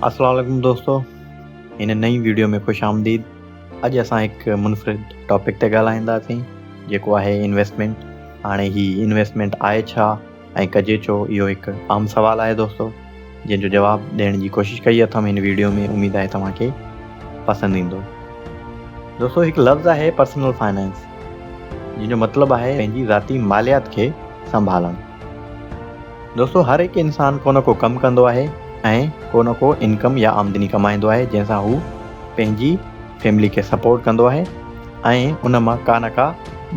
السلام عليڪم دوستو ان نئين ويڊيو ۾ خوش آمديد اڄ اسان هڪ منفرد ٽاپڪ تي ڳالهائينداسين جيڪو آهي انويسٽمنٽ هاڻي هي انويسٽمنٽ آهي ڇا ۽ ڪجي ڇو اهو هڪ عام سوال آهي دوستو جنهن جو جواب ڏيڻ جي ڪوشش ڪئي اٿم هن ويڊيو ۾ اميد آهي توهان کي پسند ايندو دوستو هڪ لفظ آهي پرسنل فائنانس جن جو مطلب آهي پنهنجي ذاتي ماليات کي سنڀالڻ دوستو هر هڪ انسان ڪو نه ڪو ڪم ڪندو آهي ۽ ڪو نه ڪو انڪم يا آمدني ڪمائيندو آهي جنهن سان هو پنهنجي فيملي کي سپورٽ ڪندو آهي ۽ ان مان ڪا نه ڪا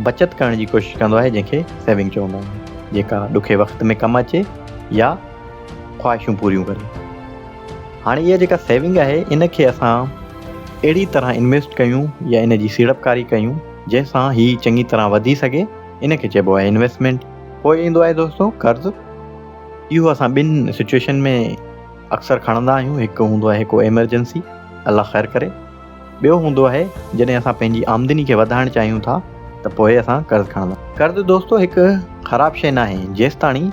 بچت ڪرڻ جي ڪوشش ڪندو آهي جنهن کي سيونگ چوندا آهن جيڪا ڏکي وقت ۾ ڪم اچي يا خواهشون پوريون ڪري هاڻي اها جيڪا سيونگ آهي ان کي اسان اهڙي طرح انويسٽ ڪيون يا ان جي سيڙپڪاري ڪيون جنهن سان هي چڱي طرح وڌي سگهي ان کي چئبو آهي انويسٽمينٽ پوء ايندو آهي دوستو قرض اهو اسان ٻن سچويشن ۾ اڪثر کڻندا آهيون هڪ هوندو آهي ڪو ايمرجنسي الله خير ڪري ٻيو هوندو آهي جڏهن اسان پنهنجي آمدني کي وڌائڻ چاهيون ٿا ته پوء اسان قرض کڻندا. قرض دوستو هڪ خراب شيء ناهي جيستاڻي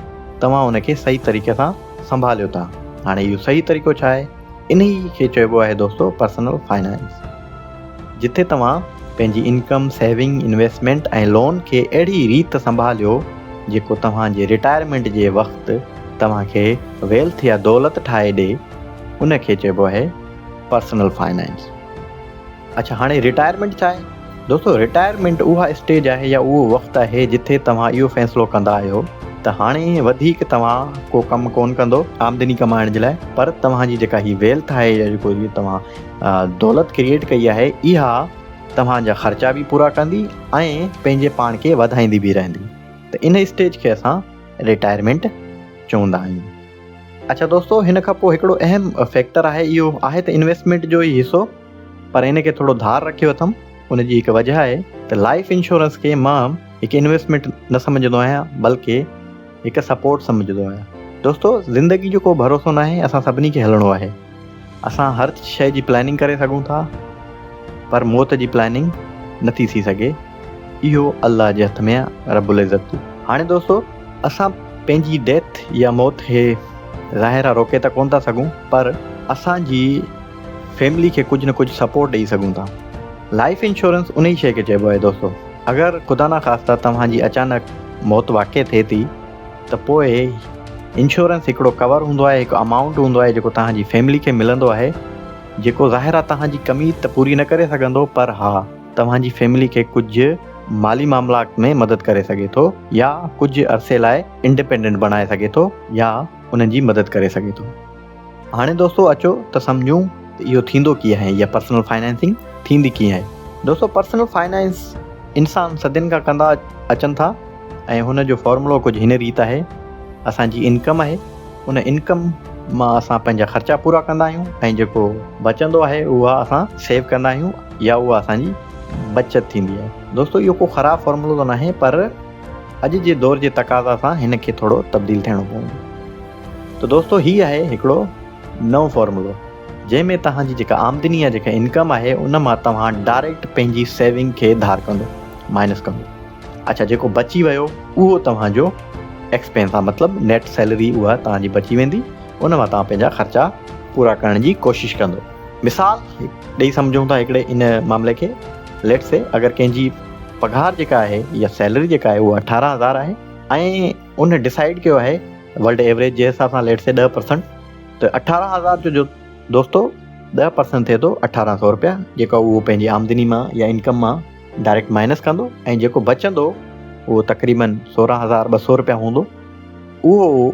توهان ان کي صحيح طريقي سان سنڀاليو ٿا. هاڻي اهو صحيح طريقو ڇا آهي؟ انهي کي چئبو آهي دوستو پرسنل فنانس. جتي توهان پنهنجي انڪم، سيونگ، انويسٽمينٽ ۽ لون کي اهڙي ريت سنڀاليو جيڪو توهان جي رٽائرمينٽ جي وقت توهان کي ويلٿ يا دولت ٺاهي ڏي. ان کي چئبو آهي. پرسنل فائنانس اڇا هاڻي رٽائرمينٽ ڇا آهي دوستو رٽائرمينٽ اها اسٽيج آهي يا اهو وقت آهي جتي توهان اهو فيصلو ڪندا آهيو ته هاڻي وڌيڪ توهان ڪو ڪم ڪون ڪندو آمدني ڪمائڻ جي لاء پر توهان جي جيڪا هي ويلٿ آهي يا جيڪو هي توهان دولت ڪريئيٽ ڪئي آهي اها توهان جا خرچا به پورا ڪندي ۽ پنهنجي پاڻ کي وڌائيندي به رهندي ته ان اسٽيج کي اسان رٽائرمينٽ چوندا آهيون اڇا دوستو هن کان پوء هڪڙو اهم فيڪٽر آهي اهو آهي ته انويسٽمينٽ جو ئي حصو پر ان کي ٿورو ڌار رکيو اٿم ان جي هڪ وجه آهي ته لائيف انشورنس کي مان هڪ انويسٽمينٽ نه سمجهندو آهيان بلڪه هڪ سپورٽ سمجهندو آهيان دوستو زندگي جو ڪو ڀروسو ناهي اسان سڀني کي هلڻو آهي اسان هر شيء جي پلاننگ ڪري سگهون ٿا پر موت جي پلاننگ نه ٿي ٿي سگهي اهو الله جي هٿ ۾آ رب العزت. هاڻي دوستو اسان پنهنجي ڊيٿ يا موت کي ظاهر آ روڪي ته ڪونه ٿا سگهون پر اسان جي فيملي کي ڪجهه نه ڪجهه سپورٽ ڏئي سگهون ٿا لائيف انشورنس انهي شيء کي چئبو آهي دوستو اگر خدا ناخواسته توهان جي اچانڪ موت واقع ٿئي ٿي ته پوء انشورنس هڪڙو ڪور هوندو آهي هڪ امائونٽ هوندو آهي جيڪو توهان جي فيملي کي ملندو آهي جيڪو ظاهر آهي توهان جي ڪمي ته پوري نه ڪري سگهندو پر ها توهان جي فيملي کي ڪجهه مالي معاملات ۾ مدد ڪري سگهي ٿو يا ڪجهه عرصي لاء انڊيپينڊنٽ بڻائي سگهي ٿو يا انهن جي مدد ڪري سگهي ٿو. هاڻي دوستو اچو ته سمجهون ته اهو ٿيندو ڪيئن آهي يا پرسنل فنانسنگ ٿيندي ڪيئن آهي. دوستو پرسنل فنانس انسان صدين کان ڪندا اچن ٿا ۽ هن جو فارمولو ڪجهه هن ريت آهي اسان جي انڪم آهي ان انڪم مان اسان پنهنجا خرچا پورا ڪندا آهيون ۽ جيڪو بچندو آهي اها اسان سيو ڪندا آهيون يا اها اسان جي بچت ٿيندي آهي. دوستو اهو ڪو خراب فارمولو ته ناهي پر اڄ جي دور جي تقاضا سان هن کي ٿورو تبديل ٿيڻو پوندو. ته دوستو هي آهي هڪڙو نئون فارمولو جنهن ۾ توهان جي جيڪا آمدني يا جيڪا انڪم آهي ان مان توهان ڊائريڪٽ پنهنجي سيونگ کي ڌار ڪندو مائنس ڪندو اڇا جيڪو بچي ويو اهو توهان جو ايڪسپينس آهي مطلب نيٽ سيلري اها توهان جي بچي ويندي ان مان توهان پنهنجا خرچا پورا ڪرڻ جي ڪوشش ڪندو مثال ڏيئي سمجهون ٿا هڪڙي ان معاملي کي ليٽس سي اگر ڪنهن جي پگهار جيڪا آهي يا سيلري جيڪا آهي اها اٺارهن هزار آهي ۽ ان ڊسائيڊ ڪيو آهي ورلڊ ايوريج جي حساب سان ليٽس سي ڏهه پرسنٽ ته اٺارهن هزار جو جو دوستو ڏهه پرسنٽ ٿئي ٿو اٺارهن سؤ روپيا جيڪا اهو پنهنجي آمدني مان يا انڪم مان ڊائريڪٽ مائنس ڪندو ۽ جيڪو بچندو اهو تقريبن سورهن هزار ٻه سؤ روپيا هوندو اهو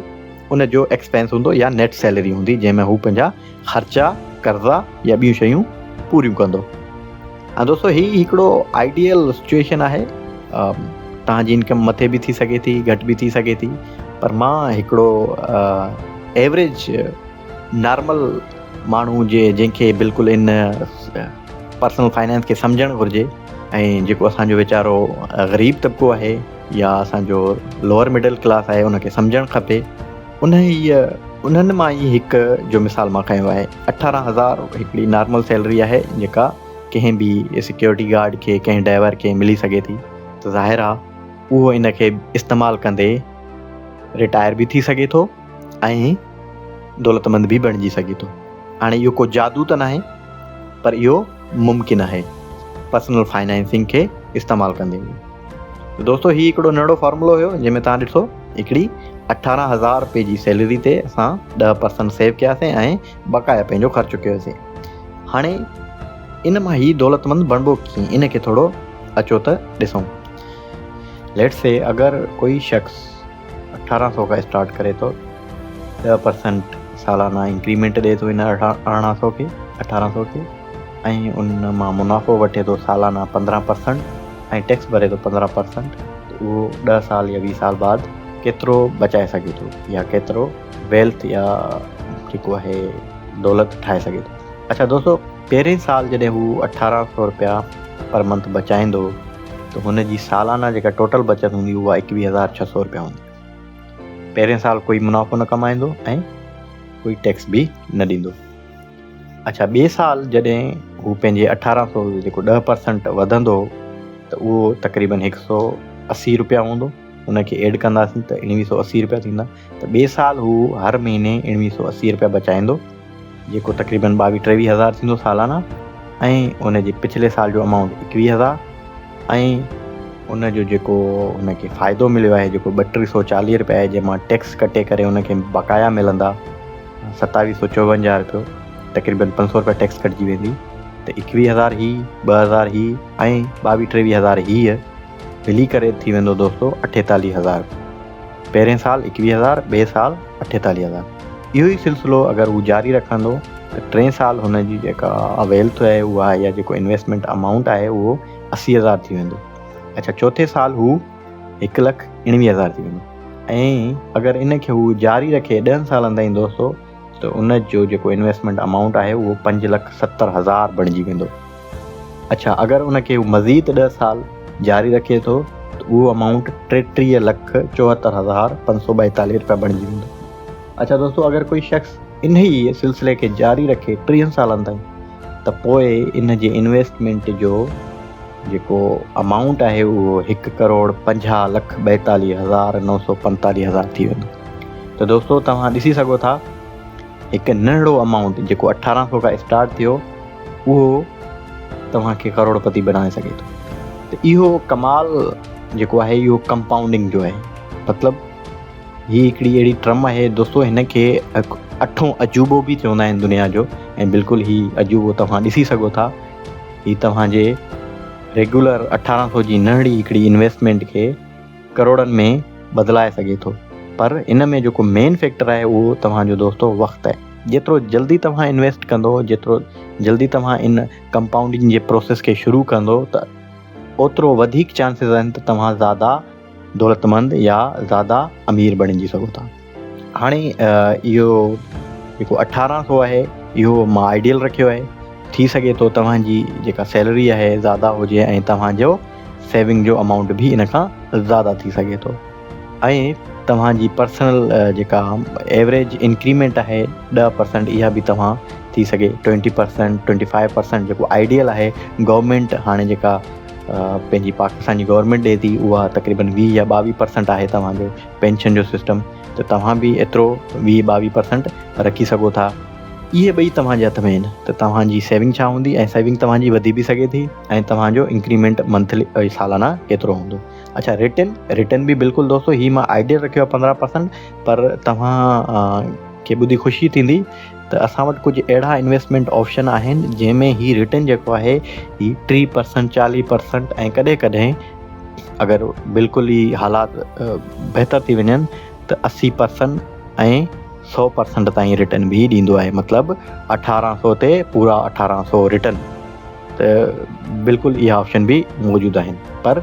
ان جو ايڪسپينس هوندو يا نيٽ سيلري هوندي جنهن ۾ هو پنهنجا خرچا، قرضا يا ٻيون شيون پوريون ڪندو. ها دوستو هي هڪڙو آئيڊيل سچوئيشن آهي تهان جي انڪم مٿي به ٿي سگهي ٿي گهٽ به ٿي سگهي ٿي پر مان هڪڙو ايوريج نارمل ماڻهو جي جنهن کي بلڪل ان پرسنل فائنانس کي سمجهڻ گهرجي ۽ جيڪو اسان جو ويچارو غريب طبقو آهي يا اسان جو لوئر مڊل ڪلاس آهي ان کي سمجهڻ کپي انهيء انهن مان ئي هڪ جو مثال مان کنيو آهي اٺارهن هزار هڪڙي نارمل سيلري آهي جيڪا ڪنهن به سيڪيورٽي گارڊ کي ڪنهن ڊائيور کي ملي سگهي ٿي ته ظاهر آهي اهو ان کي استعمال ڪندي رٽائر به ٿي سگهي ٿو ۽ دولتمند به بڻجي سگهي ٿو هاڻي اهو ڪو جادو ته ناهي پر اهو ممڪن آهي پرسنل فائنانسنگ کي استعمال ڪندي به ته دوستو هي هڪڙو ننڍڙو فارمولو هيو جنهن ۾ توهان ڏٺو هڪڙي اٺارهن هزار روپئي جي سيلري تي اسان ڏهه پرسنٽ سيو ڪياسين ۽ بقايا پنهنجو خرچ ڪيوسين هاڻي ان مان هي دولتمند بڻبو ڪيئن ان کي ٿورو اچو ته ڏسون ليٽس سي اگر ڪوئي شخص اٺارهن سؤ کان اسٽارٽ ڪري ٿو ڏهه پرسنٽ سالانه انڪريمينٽ ڏي ٿو هن ارڙهن سؤ کي اٺارهن سؤ کي ۽ ان مان منافعو وٺي ٿو سالانه پندرهن پرسنٽ ۽ ٽيڪس ڀري ٿو پندرهن پرسنٽ ته اهو ڏهه سال يا ويهه سال بعد ڪيترو بچائي سگهي ٿو يا ڪيترو ويلٿ يا جيڪو آهي دولت ٺاهي سگهي ٿو اچا دوستو پهرين سال جڏهن هو اٺارهن سؤ روپيا پر منٿ بچائيندو ته هن جي سالانه جيڪا ٽوٽل بچت هوندي اها ايڪويهه هزار ڇهه سؤ رپيا هوندي. پهرين سال ڪوئي منافعو نه ڪمائيندو ۽ ڪوئي ٽيڪس به نه ڏيندو. اڇا ٻئي سال جڏهن هو پنهنجي اٺارهن سؤ جو جيڪو ڏهه پرسنٽ وڌندو ته اهو تقريبن هڪ سؤ اسي رپيا هوندو. ان کي ايڊ ڪنداسين ته اڻويهه سؤ اسي رپيا ٿيندا. ته ٻئي سال هو هر مهيني اڻويهه سؤ اسي رپيا بچائيندو، جيڪو تقريبن ٻاويهه ٽيويهه هزار ٿيندو سالانه ۽ ان جي پڇلي سال جو امائونٽ ايڪويهه هزار ۽ ان جو جيڪو هن کي فائدو مليو آهي جيڪو ٻه ٽي سؤ چاليهه رپيا آهي جنهن مان ٽيڪس ڪٽي ڪري هن کي بقايا ملندا ستاويهه سؤ چوونجاهه رپيو تقريبن پنج سؤ رپيا ٽيڪس ڪٽجي ويندي ته ايڪويهه هزار هي ٻه هزار هي ۽ ٻاويهه ٽيويهه هزار هيء ملي ڪري ٿي ويندو دوستو اٺيتاليهه هزار پهرين سال ايڪويهه هزار، ٻئي سال اٺيتاليهه هزار. اهو ئي سلسلو اگر هو جاري رکندو ته ٽئين سال هن جي جيڪا اويلٿ آهي اها يا جيڪو انويسٽمينٽ امائونٽ آهي اهو اسي هزار ٿي ويندو. اڇا چوٿين سال هو هڪ لک اڻويهه هزار ٿي ويندو ۽ اگر ان کي هو جاري رکي ڏهن سالن تائين دوستو ته ان جو جيڪو انويسٽمينٽ امائونٽ آهي اهو پنج لک ستر هزار بڻجي ويندو. اڇا اگر ان کي هو مزيد ڏهه سال جاري رکي ٿو ته اهو امائونٽ ٽيٽيهه لک چوهتر هزار پنج سؤ ٻائيتاليهه روپيا بڻجي ويندو. اڇا دوستو اگر ڪوئي شخص انهيء سلسلي کي جاري رکي ٽيهن سالن تائين ته پوء ان جي انويسٽمينٽ جو جيڪو امائونٽ آهي اهو هڪ ڪروڙ پنجاهه لک ٻائيتاليهه هزار نو سو پنتاليهه هزار ٿي ويندو ته دوستو توهان ڏسي سگهو ٿا هڪ ننڍڙو امائونٽ جيڪو اٺارهن سو کان اسٽارٽ ٿيو اهو توهان کي ڪروڙپتي بڻائي سگهي ٿو ته اهو ڪمال جيڪو آهي اهو ڪمپائونڊنگ جو آهي مطلب هي هڪڙي اهڙي ٽرم آهي دوستو هن کي اٺون عجوبو به چوندا آهن دنيا جو ۽ بلڪل هي عجوبو توهان ڏسي سگهو ٿا هي توهان جي ريگولر اٺارهن سو جي ننڍڙي هڪڙي انويسٽمينٽ کي ڪروڙن ۾ بدلائي سگهي ٿو پر ان ۾ جيڪو مين فيڪٽر آهي اهو توهان جو دوستو وقت آهي جيترو جلدي توهان انويسٽ ڪندو جيترو جلدي توهان ان ڪمپائونڊنگ جي پروسيس کي شروع ڪندو ته اوترو وڌيڪ چانسز آهن ته توهان زياده دولتمند يا زياده امير بڻجي سگهو ٿا هاڻي اهو جيڪو اٺارهن سو آهي اهو مان آئيڊيل رکيو آهي ٿي سگهي ٿو توهان جي جيڪا سيلري آهي زياده هجي ۽ توهان جو سيونگ جو امائونٽ به ان کان زياده ٿي سگهي ٿو ۽ توهان جي پرسنل جيڪا ايوریج انڪريمينٽ آهي ڏهه پرسنٽ اها به توهان ٿي سگهي twenty percent twenty five percent جيڪو آئيڊيل آهي گورنمينٽ هاڻي جيڪا پنهنجي پاڪستان جي گورنمينٽ ڏي ٿي اها تقريبن ويهه يا ٻاويهه پرسنٽ آهي توهان جو پينشن جو سسٽم ته توهان به ايترو ويهه ٻاويهه پرسنٽ رکي سگهو ٿا اهي ٻئي توهان جي هٿ ۾ آهن ته توهان جي سيونگ ڇا هوندي ۽ سيونگ توهان جي وڌي به سگهي ٿي ۽ توهان جو انڪريمينٽ منٿلي سالانا ڪيترو هوندو اچھا ريٽن ريٽن به بلڪل دوستو هي مان آئيڊيل رکيو پندرهن پرسنٽ پر توهان کي ٻڌي خوشي ٿيندي ته اسان وٽ ڪجهه اهڙا انويسٽمينٽ آپشن آهن جنهن ۾ هي رٽرن جيڪو آهي هي ٽي پرسنٽ چاليهه پرسنٽ ۽ ڪڏهن ڪڏهن اگر بلڪل ئي حالات بهتر ٿي وڃن ته اسي پرسنٽ ۽ سو پرسنٽ تائين رٽرن به ڏيندو آهي مطلب اٺارهن سو تي پورا اٺارهن سو رٽرن ته بلڪل اها آپشن به موجود آهن پر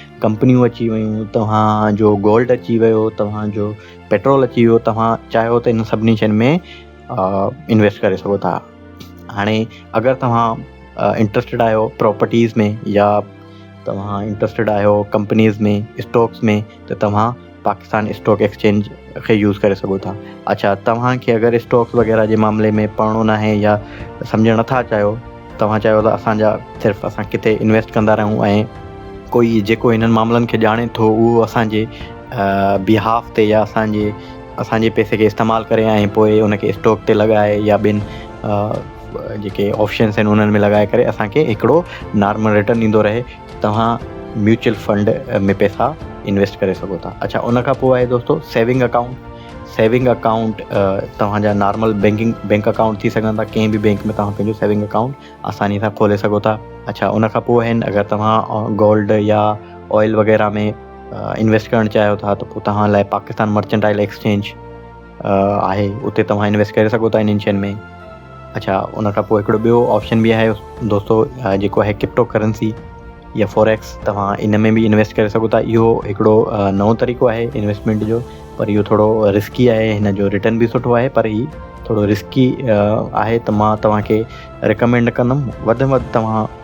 ڪمپنيون اچي ويون، توهان جو گولڊ اچي ويو، توهان جو پيٽرول اچي ويو، توهان چاهيو ته ان سڀني شين ۾ انويسٽ ڪري سگهو ٿا. هاڻي اگر توهان انٽرسٽيڊ آهيو پراپرٽيز ۾ يا توهان انٽرسٽيڊ آهيو ڪمپنيز ۾ اسٽاڪس ۾ ته توهان پاڪستان اسٽاڪ ايڪسچينج کي يوز ڪري سگهو ٿا اڇا توهان کي اگر اسٽاڪس وغيره جي معاملي ۾ پڙهڻو ناهي يا سمجهڻ نٿا چاهيو توهان چاهيو ته اسان جا صرف اسان ڪٿي انويسٽ ڪندا رهون ۽ ڪوئي جيڪو هنن معاملن کي ڄاڻي ٿو اهو اسان جي بيهاف تي يا اسان جي اسان جي پيسي کي استعمال ڪري ۽ پوء ان کي اسٽاڪ تي لڳائي يا ٻين جيڪي آپشنس آهن انهن ۾ لڳائي ڪري اسان کي هڪڙو نارمل رٽرن ڏيندو رهي توهان ميوچل فنڊ ۾ پئسا انويسٽ ڪري سگهو ٿا اڇا ان کان پوء آهي دوستو سيونگ اڪائونٽ سيونگ اڪائونٽ توهان جا نارمل بينڪنگ بينڪ اڪائونٽ ٿي سگهن ٿا ڪنهن به بينڪ ۾ توهان پنهنجو سيونگ اڪائونٽ آساني سان کولي سگهو ٿا اڇا ان کان پوء آهن اگر توهان گولڊ يا آئل وغيرہ ۾ انويسٽ ڪرڻ چاهيو ٿا ته پوء توهان لاء پاڪستان مرچنٽائل ايڪسچينج آهي اتي توهان انويسٽ ڪري سگهو ٿا انهن شين ۾ اڇا ان کان پوء هڪڙو ٻيو آپشن به آهي دوستو جيڪو آهي ڪرپٽو ڪرنسي يا فوريڪس توهان ان ۾ به انويسٽ ڪري سگهو ٿا اهو هڪڙو نئون طريقو آهي انويسٽمينٽ جو پر اهو ٿورو رسڪي آهي هن جو رٽرن به سٺو آهي پر هي ٿورو رسڪي آهي ته مان توهان کي رڪمينڊ ڪندم وڌ ۾ وڌ توهان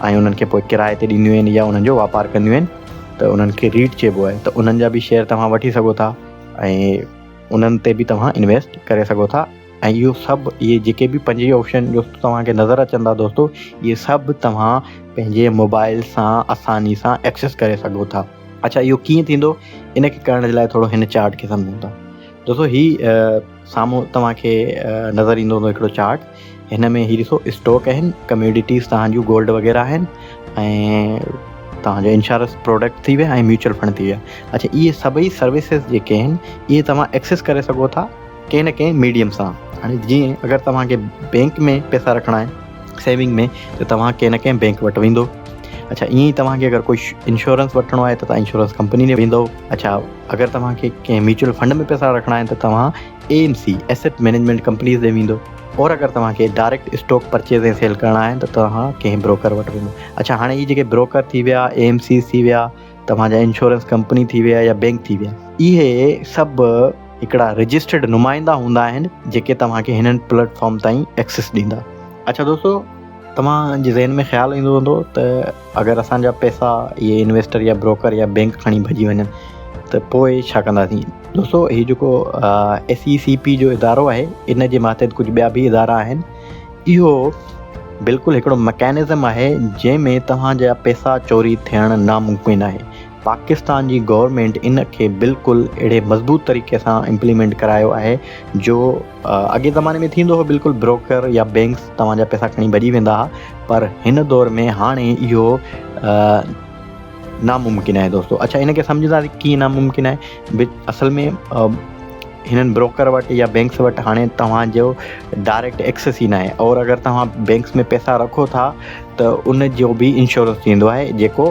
۽ انهن کي پوء ڪرايي تي ڏينديون آهن يا انهن جو واپار ڪنديون آهن ته انهن کي ريٽ چئبو آهي ته انهن جا به شيئر توهان وٺي سگهو ٿا ۽ انهن تي به توهان انويسٽ ڪري سگهو ٿا ۽ اهو سڀ اهي جيڪي به پنج هي آپشن جو توهان کي نظر اچن ٿا دوستو اهي سڀ توهان پنهنجي موبائل سان آساني سان ايڪسس ڪري سگهو ٿا اڇا اهو ڪيئن ٿيندو ان کي ڪرڻ جي لاء ٿورو هن چارٽ کي سمجهون ٿا دوستو هي سامهون توهان کي نظر ايندو هوندو هڪڙو چارٽ هن ۾ هي ڏسو اسٽوڪ آهن ڪميوڊيٽيز توهان جون گولڊ وغيره آهن ۽ توهان جو انشورنس پروڊڪٽ ٿي ويا ۽ ميوچل فنڊ ٿي ويا اڇا اهي سڀئي سروسز جيڪي آهن اهي توهان ايڪسيس ڪري سگهو ٿا ڪنهن نه ڪنهن ميڊيم سان هاڻي جيئن اگر توهان کي بينڪ ۾ پيسا رکڻا آهن سيونگ ۾ ته توهان ڪنهن نه ڪنهن بينڪ وٽ ويندو اڇا ائين ئي توهان کي اگر ڪوئي انشورنس وٺڻو آهي ته توهان انشورنس ڪمپني ڏي ويندو اڇا اگر توهان کي ڪنهن ميوچل فنڊ ۾ پئسا رکڻا آهن ته توهان A M C, Asset Management Companies، ڏي ويندو اور اگر توهان کي ڊائريڪٽ اسٽاڪ پرچيز ۽ سيل ڪرڻا آهن ته توهان ڪنهن بروڪر وٽ وڃو. اڇا هاڻي هي جيڪي بروڪر ٿي ويا، اي ايم سيز ٿي ويا، توهان جا انشورنس ڪمپني ٿي ويا يا بينڪ ٿي ويا. اهي سڀ هڪڙا رجسٽرڊ نمائندا هوندا آهن جيڪي توهان کي هنن پليٽ فارم تائين ايڪسيس ڏيندا. اڇا دوستو توهان جي ذهن ۾ خيال ايندو هوندو ته. اگر اسان جا پئسا اهي انويسٽر يا بروڪر يا بينڪ کڻي ڀڄي وڃن ته پوء ڇا ڪنداسين؟ دوستو هي جيڪو ايس اي سي پي جو ادارو آهي ان جي ماتحت ڪجهه ٻيا به ادارا آهن اهو بلڪل هڪڙو مڪينزم آهي جنهن ۾ توهان جا پئسا چوري ٿيڻ ناممڪن آهي پاڪستان جي گورنمينٽ ان کي بلڪل اهڙي مضبوط طريقي سان امپليمينٽ ڪرايو آهي جو اڳئين زماني ۾ ٿيندو هو بلڪل بروڪر يا بينڪس توهان جا پيسا کڻي ڀڄي ويندا ها پر هن دور ۾ هاڻي اهو ناممڪن آهي دوستو اچا ان کي سمجهندا ڪيئن ناممڪن آهي اصل ۾ هنن بروڪر وٽ يا بينڪس وٽ هاڻي توهان جو ڊائريڪٽ ايڪسس ئي ناهي اور اگر توهان بينڪس ۾ پيسا رکو ٿا ته ان جو به انشورنس ٿيندو آهي جيڪو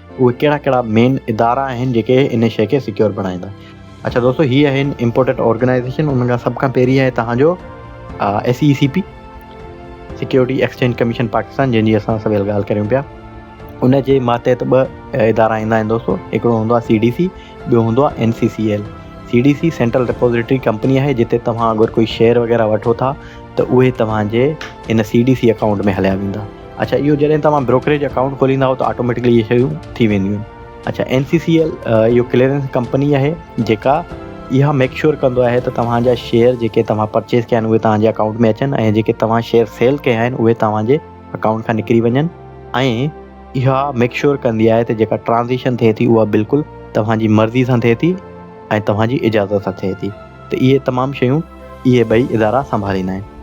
اهي ڪهڙا ڪهڙا مين ادارا آهن جيڪي ان شي کي سيڪيور بڻائيندا. اڇا دوستو هي آهن امپورٽنٽ آرگنائيزيشن انهن کان سڀ کان پهرين آهي توهان جو S E C P security exchange commission Pakistan جنهن جي اسان سويل ڳالهه ڪريون پيا ان جي ماتحت ٻه ادارا ايندا آهن دوستو هڪڙو هوندو آهي سي ڊي سي ٻيو هوندو آهي N C C L C D C central depository company آهي جتي توهان اگر ڪوئي شيئر وغيره وٺو ٿا ته اهي توهان جي ان سي ڊي سي اڪائونٽ ۾ هليا ويندا اڇا اهو جڏهن توهان بروڪريج اڪائونٽ کوليندا ته آٽوميٽڪلي اهي شيون ٿي وينديون آهن اڇا اين سي سي ايل اهو ڪليئرنس ڪمپني آهي جيڪا اها ميڪ شور ڪندو آهي ته توهان جا شيئر جيڪي توهان پرچيز ڪيا آهن اهي توهان جي اڪائونٽ ۾ اچن ۽ جيڪي توهان شيئر سيل ڪيا آهن اهي توهان جي اڪائونٽ کان نڪري وڃن ۽ اها ميڪ شور ڪندي آهي ته جيڪا ٽرانزيڪشن ٿئي ٿي اها بلڪل توهان جي مرضي سان ٿئي ٿي ۽ توهان جي اجازت سان ٿئي ٿي ته اهي تمام شيون اهي ٻئي ادارا سنڀاليندا آهن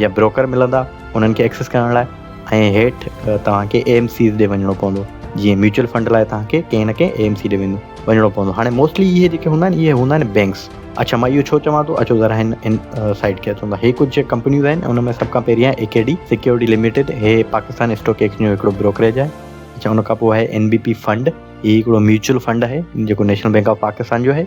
جا بروڪر ملندا انهن کي ايڪسيس ڪرڻ لاء ۽ هيٺ توهان کي اي ايم سيز ڏي وڃڻو پوندو جيئن ميوچل فنڊ لاء توهان کي ڪنهن نه ڪنهن اي ايم سي ڏي ويندو وڃڻو پوندو هاڻي موسٽلي اهي جيڪي هوندا آهن اهي هوندا آهن بينڪس اڇا مان اهو ڇو چوان ٿو اچو ذرا هن ان سائيٽ کي اچو هي ڪجهه جيڪي ڪمپنيز آهن ان ۾ سڀ کان پهريان A K D security limited هي پاڪستان اسٽاڪ ايڪسچينج جو هڪڙو بروڪريج آهي اچا ان کان پوء آهي اين بي پي فنڊ هي هڪڙو ميوچل فنڊ آهي جيڪو نيشنل بينڪ آف پاڪستان جو آهي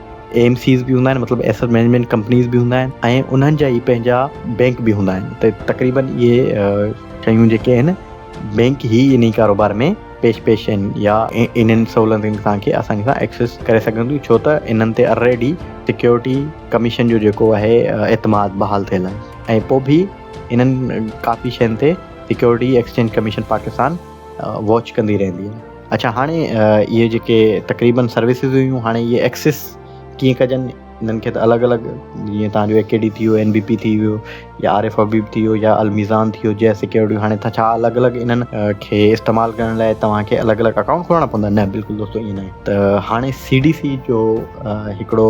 اي ايم سيز به هوندا آهن مطلب ايسٽ مينجمينٽ ڪمپنيز به هوندا آهن ۽ انهن جا ئي پنهنجا بينڪ به هوندا آهن ته تقريبن اهي شيون جيڪي آهن بينڪ هي انهي ڪاروبار ۾ پيش پيش آهن يا انهن سهولتن کي تهان کي آساني سان ايڪسيس ڪري سگهن ٿيون ڇو ته انهن تي الريڊي سيڪيورٽي ڪميشن جو جيڪو آهي اعتماد بحال ٿيل آهي ۽ پوء به انهن ڪافي شين تي security exchange commission Pakistan watch ڪندي رهندي آهي اڇا هاڻي اهي جيڪي تقريبن سروسز هيون هاڻي اهي ايڪسس ڪيئن ڪجن انهن کي ته الڳ الڳ جيئن تهان جو اي ڪي ڊي ٿي ويو اين بي پي ٿي ويو يا آر ايف حبيب ٿي ويو يا الميزان ٿي ويو جي ايس سيڪيورٽي هاڻي ته ڇا الڳ الڳ انهن کي استعمال ڪرڻ لاء توهان کي الڳ الڳ اڪائونٽ کولڻا پوندا نه بلڪل دوستو ائين نه ته هاڻي سي ڊي سي جو هڪڙو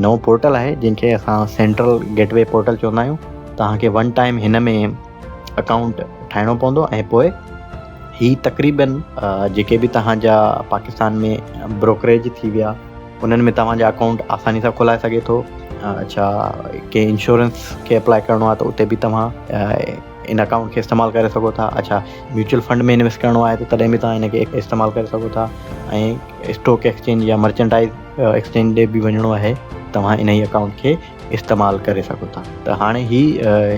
نئون پورٽل آهي جنهن کي اسان سينٽرل گيٽ وي پورٽل چوندا آهيون توهان کي ون ٽائم هن ۾ اڪائونٽ ٺاهڻو پوندو ۽ پوء هي تقريباً جيڪي به توهان جا پاڪستان ۾ بروڪريج ٿي ويا انهن ۾ توهان جا اڪائونٽ آساني سان کولائي سگهي ٿو اڇا ڪنهن انشورنس کي اپلاء ڪرڻو آهي ته اتي به توهان ان اڪائونٽ کي استعمال ڪري سگهو ٿا اڇا ميوچل فنڊ ۾ انويسٽ ڪرڻو آهي ته تڏهن به توهان ان کي استعمال ڪري سگهو ٿا ۽ اسٽوڪ ايڪسچينج يا مرچنٽائز ايڪسچينج ڏي به وڃڻو آهي توهان ان اڪائونٽ کي استعمال ڪري سگهو ٿا ته هاڻي هي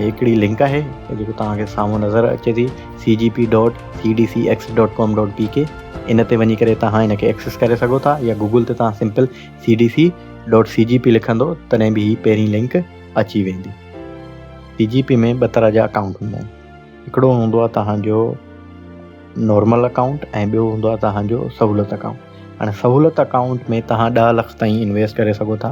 هڪڙي لنڪ آهي جيڪو توهان کي سامهون نظر اچي ٿي C G P dot C D C X dot com dot P K ان تي وڃي ڪري توهان ان کي ايڪسس ڪري سگهو ٿا يا گوگل تي توهان simple C D C dot C G P لکندو تڏهن به هي پهرين لنڪ اچي ويندي سي جي پي ۾ ٻه طرح جا اڪائونٽ هوندا آهن هڪڙو هوندو آهي توهانجو نارمل اڪائونٽ ۽ ٻيو هوندو آهي توهانجو سهولت اڪائونٽ هاڻي سهولت اڪائونٽ ۾ توهان ڏهه لک تائين انويسٽ ڪري سگهو ٿا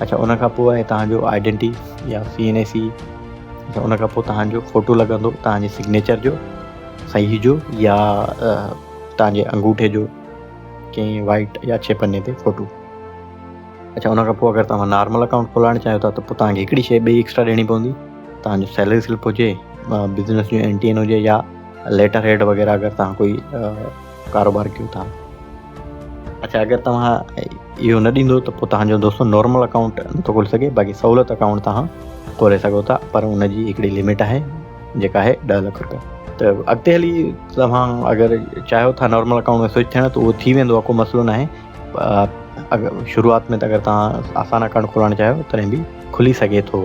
اڇا ان کان پوء آهي تهان جو آئيڊينٽي يا سي اين اي سي اڇا ان کان پوء تهان جو فوٽو لڳندو تهان جي سگنيچر جو صحيح جو يا تهان جي انگوٺي جو ڪنهن وائٽ يا چھ پني تي فوٽو اچھا ان کان پوء اگر تمام نارمل اڪاؤنٹ کولائڻ چاهيو ٿا ته پوء تمام هڪڙي شيء ٻي ایڪسٽرا ڏيڻي پوندي تمام جو سيلري سلپ هجي بزنس جو اين ٽي اين هجي يا ليٽر هيڊ وغيرہ اگر تمام ڪوئي ڪاروبار ڪيو ٿا اڇا اگر توهان اهو نه ڏيندو ته پوء تهان جو دوستو نارمل اڪائونٽ نٿو کولي سگهي باقي سهولت اڪائونٽ توهان کولي سگهو ٿا پر ان جي هڪڙي لمٽ آهي جيڪا آهي ڏهه لک روپيا ته اڳتي هلي توهان اگر چاهيو ٿا نارمل اڪائونٽ ۾ سوئچ ٿيڻ ته اهو ٿي ويندو ڪو مسئلو نه آهي شروعات ۾ ته اگر توهان آسان اڪائونٽ کولائڻ چاهيو تڏهن به کلي سگهي ٿو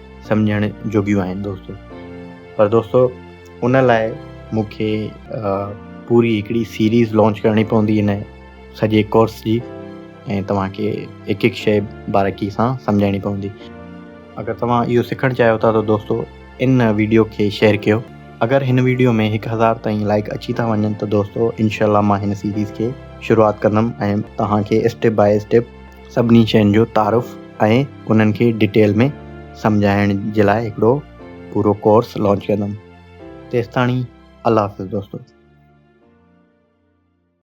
سمجهڻ جوڳيون آهن دوستو پر دوستو ان لاء مون کي پوري هڪڙي سيريز لانچ ڪرڻي پوندي هن سڄي ڪورس جي ۽ توهان کي هڪ هڪ شيء بارڪي سان سمجهائڻي پوندي اگر توهان اهو سکڻ چاهيو ٿا ته دوستو ان ويڊيو کي شيئر ڪيو اگر هن ويڊيو ۾ هڪ هزار تائين لائڪ اچي ٿا وڃن ته دوستو انشاء الله مان هن سيريز کي شروعات ڪندم ۽ توهان کي اسٽيپ باء اسٽيپ سڀني شين جو تعارف ۽ انهن کي ڊيٽيل ۾ سمجهائڻ جي لاء هڪڙو پورو ڪورس لانچ ڪندم. تيستاڻي الله حافظ دوستو.